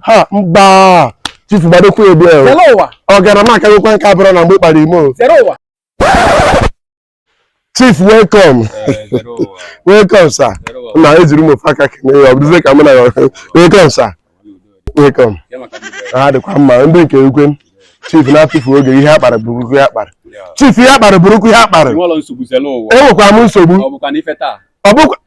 ha mba chifu gbadokwa ebe ahụ ọ gara m akagokwa nke abụrụ na mgbe kpara ime o chief welcome welcome sir na ejiri m ofu aka kene ya ọ bụrụzie ka mụ na ya welcome sir welcome ha dịkwa mma ndị nke ukwe chief na-atụfu oge ihe akpara buru ukwu ihe akpara chief ihe akpara buru ukwu ihe akpara enwekwa m nsogbu Ọ bụkwa na ife taa. ọ bụkwa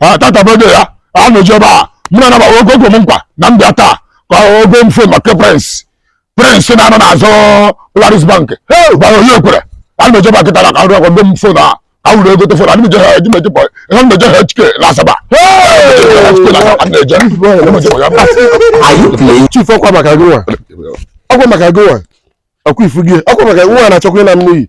ha tatabede ya a na-eji ebe a mụ na anaba ogo ogo m nkwa na m bịa taa ka ọ goo m fon maka Prince Prince na-anọ n'azụ Polaris Bank gbara onye ekwere a na-eji ebe a kịta na ka nrụ ọ goo m fon a ka wuru ego tefon a na-eje ha eji meji bọ ihe m na-eje ha HK na Asaba chief ọkwa maka gịnwa ọkwa maka gịnwa ọkwa ifu gị ọkwa maka nwa na-achọkwa ịna mmiri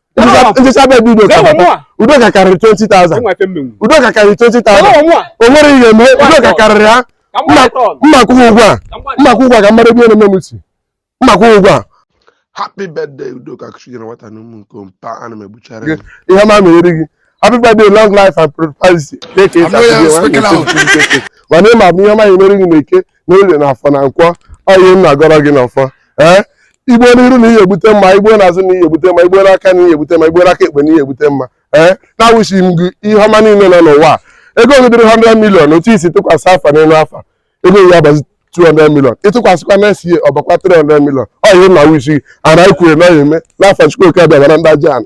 nchịcha be dị Udoka karịrị 20,000 Udoka karịrị 20,000 o nwere ihe eme Udoka karịrị ha m ma-akwụ ụgwọ a m ma-akwụ ụgwọ a ka mmadụ ebe na-eme m si m ma-akwụ ụgwọ a happy birthday Udoka kuchi nyere nwata na ụmụ nke mpa ana m egbuchara ihe ọma mere gị happy birthday long life and prosperity mana ịma bụ ihe ọma emere gị na eke n'orie na afọ na nkwọ ọ ihe m na-agọrọ gị n'ọfọ ee i gbuo n'iru na ị ya egbute mma i gbuo n'azụ na ị ya egbute mma i gbuo n'aka na ị ya egbute mma i gbuo n'aka ekpe na ị ya egbute mma ee na-awish m gị ihe ọma niile nọ n'ụwa a. ego gị dịrị 100 million otu i si tụkwasị afọ n'elu afọ ego gị abazi 200 million ị tụkwasịkwa next year ọ bakwa 300 million ọ ihe m na-awish gị anyị kwere na ọ ya eme n'afa Chukwu Oke Abịama na ndị aja ana